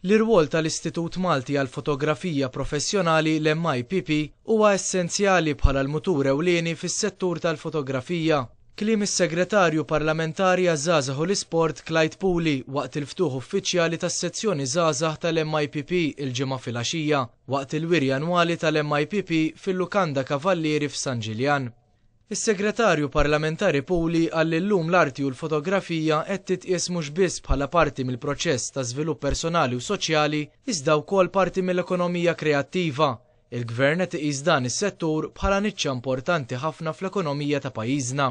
L-irwol tal-Istitut Malti għall-Fotografija Professjonali, l-MIPP, huwa essenzjali bħala l-mutur ewlieni fis-settur tal-fotografija. Kliem is-Segretarju Parlamentari għaż-Żgħażagħ u l-Isport, Clyde Puli, waqt il-ftuħ uffiċjali tas-sezzjoni Żgħażagħ tal-MIPP il-Ġimgħa filgħaxija, waqt il-wiri annwali tal-MIPP fil-Lukanda Kavallieri f'San Ġiljan. Is-Segretarju Parlamentari Puli qal li llum l-arti u l-fotografija qed titqies mhux biss bħala parti mill-proċess ta' żvilupp personali u soċjali iżda wkoll parti mill-ekonomija kreattiva. Il-Gvern qed iqis dan is-settur bħala niċċa importanti ħafna fl-ekonomija ta' pajjiżna.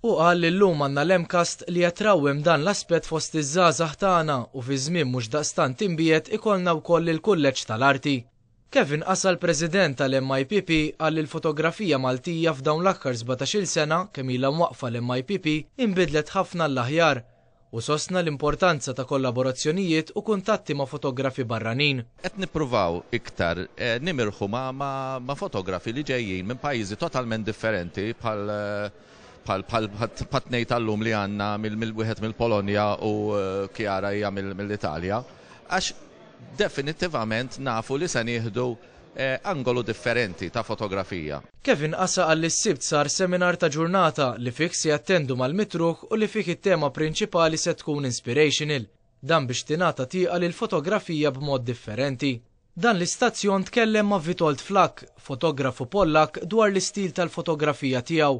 Hu qal li llum għandna l-MCAST li qed trawwem dan l-aspett fost iż-żgħażagħ tagħna u fi żmien mhux daqstant imbiegħed ikollna wkoll il-Kulleġġ tal-Arti. Kevin Casal President tal-MIPP qal li l-fotografija Maltija f'dawn l-aħkar sbatax-il sena kemm ilha mwaqqfa l-MIPP inbidlet ħafna għall-aħjar u sostna l-importanza ta' kollaborazzjonijiet u kuntatti ma' fotografi barranin. Qed nippruvaw iktar nimirħu ma' fotografi li ġejjin minn pajjiżi totalment differenti bħal bħat-tnejn tal-lum li għandna wieħed mill-Polonja u Chiara hija mill-Italja għax Definittivament nafu li se nieħdu angolu differenti ta' fotografija. Kevin Asa qal li s-Sibt sar seminar ta' ġurnata li fih se jattendu mal-mitruħ u li fih it-tema prinċipali se tkun inspirational. Dan biex tingħata tieqa lill-fotografija b'mod differenti. Dan l-istazzjon tkellem ma' Witold Flakk, fotografu Pollakk dwar l-istil tal-fotografija tiegħu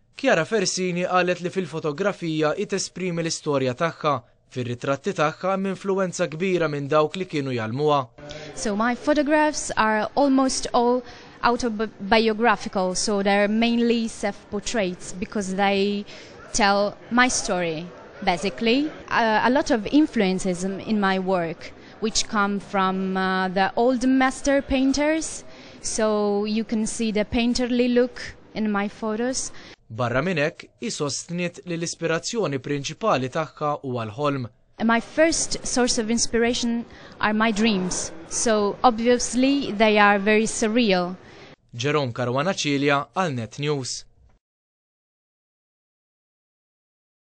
Chiara Fersini qalet li fil-fotografija hi tesprimi l-istorja tagħha. Fir-ritratti tagħha hemm influwenza kbira minn dawk li kienu jgħallmuha. So my photographs are almost all autobiographical so they're mainly self portraits because they tell my story basically. A lot of influences in my work which come from the old master painters so you can see the painterly look. in my photos. Barra minn hekk, hi sostniet li l-ispirazzjoni prinċipali tagħha huwa l-ħolm. My first source of inspiration are my dreams, so obviously they are very surreal. Jerome Caruana Cilia għal Net News.